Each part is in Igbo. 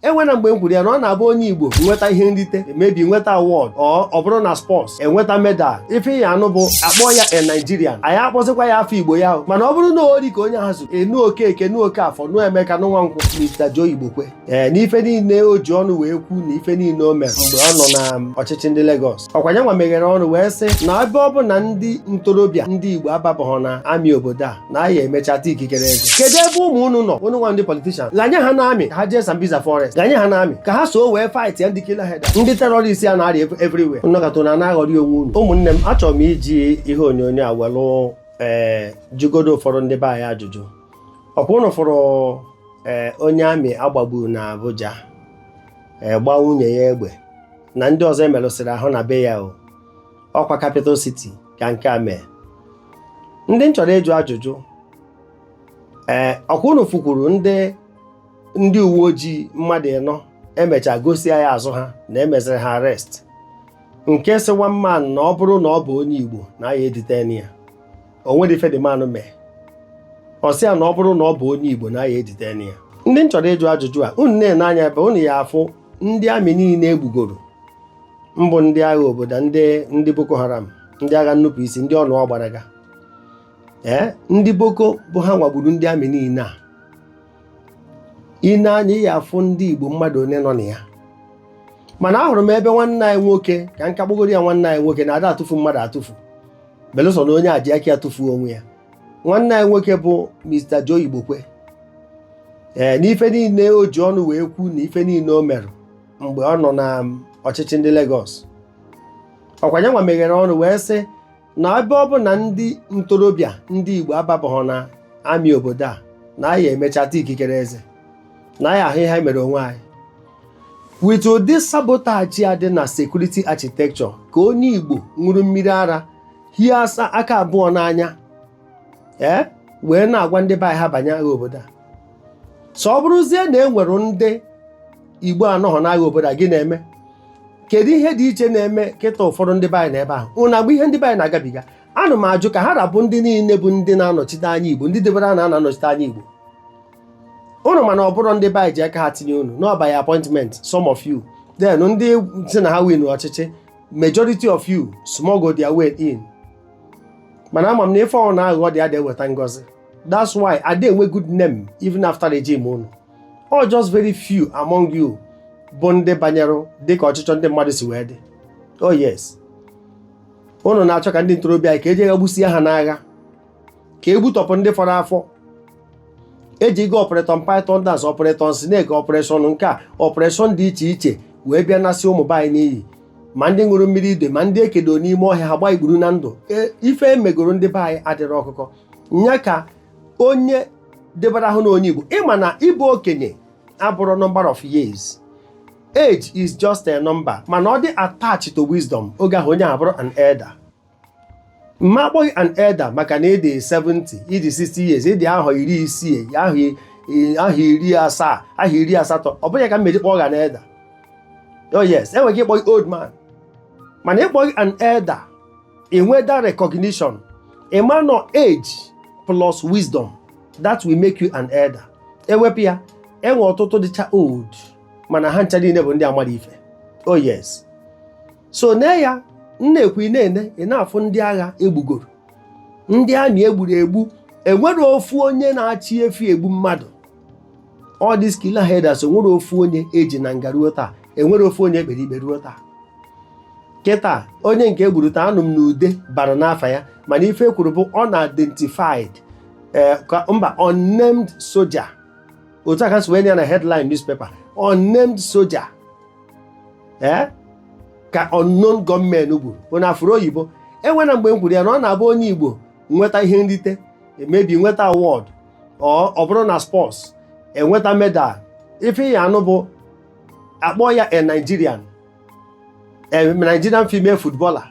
enwena mgbe m kwuru ya na ọ na-abụ onye Igbo nweta ihe nrite maybe nweta award ọ bụrụ na sports enweta medal ife ị ya-anụ bụ akpọọ ya a Nigerian anyị akpọzikwa ya afọ Igbo ya mana ọ bụrụ na ori ka onye ahụ zuru ị nụ Okeke nụ Okafọ nụ Emeka nụ Nwankwọ Mr. Joe Igbokwe ee n'ife niile o ji ọnụ wee kwu na ife niile o mere mgbe ọ nọ na ọchịchị ndị Lagos ọkwa ya nwa meghere ọnụ wee sị na ebe ọ bụ na ndị ntorobịa ndị Igbo ababaghọ na amị obodo a na a ya-emecha taa ikikere eze kedu ebe ụmụ unu nọ unu nwa ndị politishan ghanye ha na amị ka ha jee Sambisa forest ghanye ha na amị ka ha so wee fight ya ndị killer herder ndị terrorist a na-arị everywhere unu nọkata na-aghọrị onwe unu ụmụnne m achọrọ m iji ihe onyonyo a welụ ee jụgodo ụfọdụ ndị be anyị ajụjụ ọkwa unu fụrụ ee onye amị agbagburu na Abuja ee gbaa nwunye ya egbe na ndị ọzọ emerụsịrị ahụ na be ya o ọkwa capital city ka nke a mee ndị m chọrọ ịjụ ajụjụ ee ọkwa unu fụkwuru ndị ndị uwe ojii mmadụ ịnọ emechaa gosia ya azụ ha na emeziri ha arrest nke sị one man na ọ bụrụ na ọ bụ onye Igbo na ya e-detain ya o nwere ife the man mee ọ sị ya na ọ bụrụ na ọ bụ onye Igbo na ya e-detain ya ndị m chọrọ ịjụ ajụjụ a unu na-ene anya ebe unu ya afụ ndị amị niile egbugoro mbụ ndị agha obodo ndị ndị Boko Haram ndị agha nnupụ isi ndị ọnụ ọgbaraga ee ndị Boko bụ ha nwa gburu ndị amị niile a i nee anya ị ya-afụ ndị Igbo mmadụ one nọ na ya mana ahụrụ m ebe nwanne anyị nwoke ka m ka kpọgoro ya nwanne anyị nwoke na ada atụfu mmadụ atụfu belụsọ na onye a ji aka ya tụfuo onwe ya nwanne anyị nwoke bụ Mr. Joe Igbokwe ee n'ife niile o ji ọnụ wee kwu na ife niile o mere mgbe ọ nọ na um, ọchịchị ndị Lagos ọkwa ya nwa meghere ọnụ wee sị na ebe ọ bụ na ndị ntorobịa ndị Igbo ababaghọ na amị obodo a na anyị emecha taa ikikere eze na anyị ahụ ihe anyị mere onwe anyị With ụdị sabotage a dị na security architecture ka onye Igbo ṅụrụ mmiri ara hie asa aka abụọ n'anya ee eh, wee na-agwa ndị be anyị ha banye agha obodo a so ọ bụrụzie na e nwere ndị Igbo anọghọ n'agha obodo a gịnị ya-eme kedu ihe dị iche na-eme kịta ụfọdụ ndị be anyị nọ ebe ahụ ụna agba ihe ndị be anyị na-agabiga ana m ajụ ka ha ra bụ ndị niile bụ ndị na-anọchite anya Igbo ndị debere a na-anọchite anya Igbo unu mana ọ bụrọ ndị be anyị ji aka ha tinye unu n'ọ by appointment some of you then ndị sị na ha win ọchịchị majority of you smuggle their way in mana ama m na ife ọbụna aghụghọ dị ada eweta ngọzi that's why ada enwe good name even after regime unu or just very few among you bụ ndị banyere dịka ọchịchọ ndị mmadụ si wee dị oh yes unu na-achọ ka ndị ntorobịa anyị ka e jee ga gbusie ha n'agha ka e gbutọpụ ndị fọrọ afọ ejigo Operation Python Dance Operation Snake operation nke a operation dị iche iche wee bịa nasị ụmụ be anyị n'iyi ma ndị ṅụrụ mmiri ide ma ndị ekedo n'ime ọhịa ha gbaa igburu na ndụ E- ife emegoro ndị be anyị adịrọ ọkụkọ nya ka onye debara ahụ na onye igbo ịma na ịbụ okenye abụrụ number of years age is just a number mana ọ dị attached to wisdom oge ahụ onye ahụ bụrụ an elder m ma akpọ gị an elder maka na ịdị 70 ịdị 60 years ịdị ahọ iri isii ahọ i- i- ahọ iri asaa ahọ iri asatọ ọ bụghị ya ka m meji kpọọ gị an elder oh yes enwere ike ịkpọ gị old man mana ịkpọ gị an elder enwe that recognition ịma na ọ age plus wisdom that will make you an elder ewepụ ya enwe ọtụtụ dịcha old mana ha ncha niile bụ ndị amarọ ife oh yes so na ya na-ekwu ị na-ene ị na-afụ ndị agha egbugoro ndị army egburu egbu enwere ofu onye na-achị efi egbu mmadụ all these killer herders enwere ofu onye eji na nga ruo taa enwere ofu onye ekpere ikpe ruo taa kịta onye nke egburu taa anụ m na Ude bara n'afa ya mana ife ekwuru bụ unidentified eh, ka- mba unnamed soldier otu a ka esi wee nye ya na headline newspaper unnamed soldier ee ka unknown gunmen gburu onye afụrụ oyibo enwena mgbe m kwuru ya na ọ na-abụ onye igbo nweta ihe nrite maybe nweta award or ọ bụrụ na sports enweta medal ife ị ya-anụ bụ akpọ ya a Nigerian a Nigerian female footballer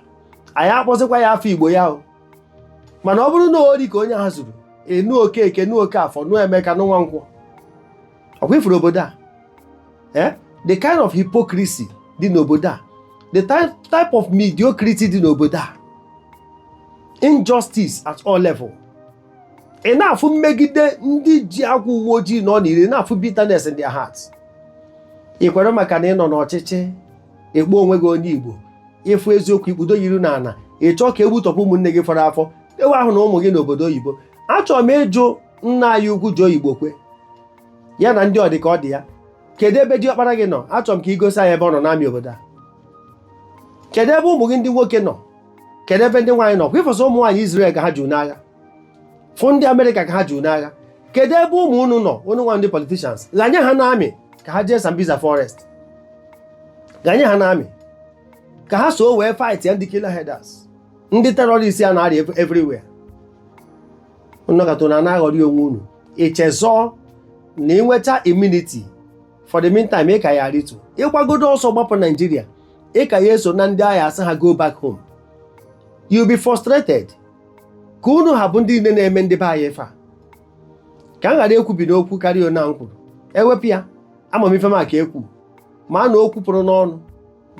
a ya akpọzikwa ya afa Igbo ya o mana ọ bụrụ na ori ka onye ha zuru ị nụ Okeke nụ Okeafọ nụ Emeka nụ Nwankwọ ọkwa ifuru obodo a eh? the kind of hypocrisy dị n'obodo a the type of mediocrity dị n'obodo a injustice at all level ị na-afụ mmegide ndị ji agwa uwe ojii nọ n'ire na-afụ bitterness in their hearts ị kwere maka na ị nọ n'ọchịchị ịkpọ onwe gị onye Igbo ịfụ eziokwu ikpudo ya iru n'ala ị chọọ ka egbutọpụ ụmụnne gị fọrọ afọ ewe ahụ na ụmụ gị n'obodo oyibo achọrọ m ịjụ nna anyị ukwu Joe Igbokwe ya na ndị ọdị ka ọ dị ya kedu ebe diọkpara gị nọ achọrọ m ka ị gosi anyị ebe ọ nọ n'army obodo a kedu ebe ụmụ gị ndị nwoke nọ kedu ebe ndị nwaanyị nọ kwa ịfụsị ụmụ nwaanyị Israel ka ha ju n'agha fụ ndị Amerịka ka ha ju n'agha kedu ebe ụmụ unu nọ unu nwa ndị politicians ghanye ha n'army ka ha jee Sambisa forest ghanye ha n'army ka ha so wee fightịa ndị killer herders ndị terrorists a na-arị everywhere nọkata unu a na-aghọrị onwe unu i chezọọ na ị nweta immunity for the meantime ị ka ya-arịtu ị gbagodo ọsọ gbapụ naijiria ị ka ya eso na ndị a ya-asị ha go back home you'll be frustrated ka unu ha bụ ndị niile na-eme ndị be anyị ife a ka m ghara ekwubi n'okwu karịa one a m kwuru ewepụ ya ama m ife m aka ekwu mana okwu pụrụ n'ọnụ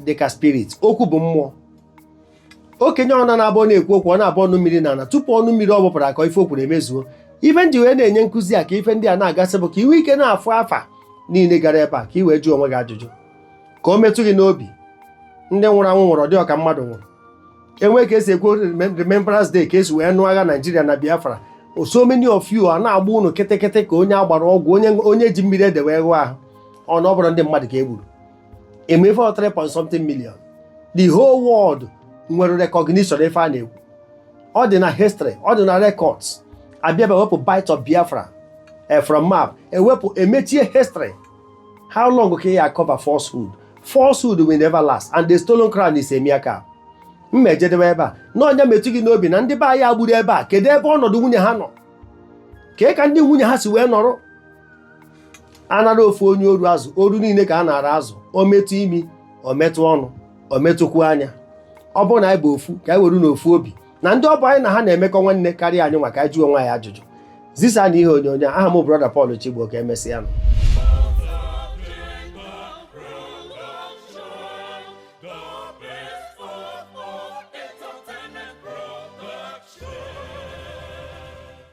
dị ka spirit okwu bụ mmụọ okenye ọ na na-abụ na-ekwu okwu ọ na-abụ ọnụ mmiri n'ala tupu ọnụ mmiri ọ bụpụrụ akọọ ife o kwuru emezuo ife m ji wee na-enye nkụzi a ka ife ndị a na-agasị bụ ka i nwee ike na-afụ afa niile gara ebe a ka i wee jụọ onwe gị ajụjụ ka o metụ gị n'obi ndị nwụrụ anwụ nwụrụ ọ dị ọka mmadụ nwụrụ e nwee ka e si ekwu remembrance day ka e si wee nụọ agha naijiria na biafra so many of you a na-agba unu kịtịkịtị ka onye a gbara ọgwụ onye ji mmiri ede wee ghụọ ahụ ọ na ọ bụrọ ndị mmadụ ka e gburu emefe 3 point something million the whole world nwere recognition ife a na-ekwu ọ dị na history ọ dị na records a bịa ewepụ bight of biafra eh, from map ewepụ emechie history how long ka ya cover falsehood falsehood will never last and the stolen crown is a mere cap m ya-ejedebe ebe a na nya metụ gị n'obi na ndị be anyị e gburu ebe a kedu ebe ọnọdụ nwunye ha nọ kee ka ndị nwunye ha si wee nọrọ a na-ara ofu onye oru azụ oru niile ka a na-ara azụ o metụ imi o metụ ọnụ o metụkwu anya ọ bụrụ na anyị bụ ofu ka anyị were n'ofu obi na ndị ọ bụ anyị na ha na-emekọ nwanne karịa anyị nwa ka anyị jụọ onwe anyị ajụjụ zisanụ ihe onyonyo a aha m brọda Paul Chigbo ka emesịanụ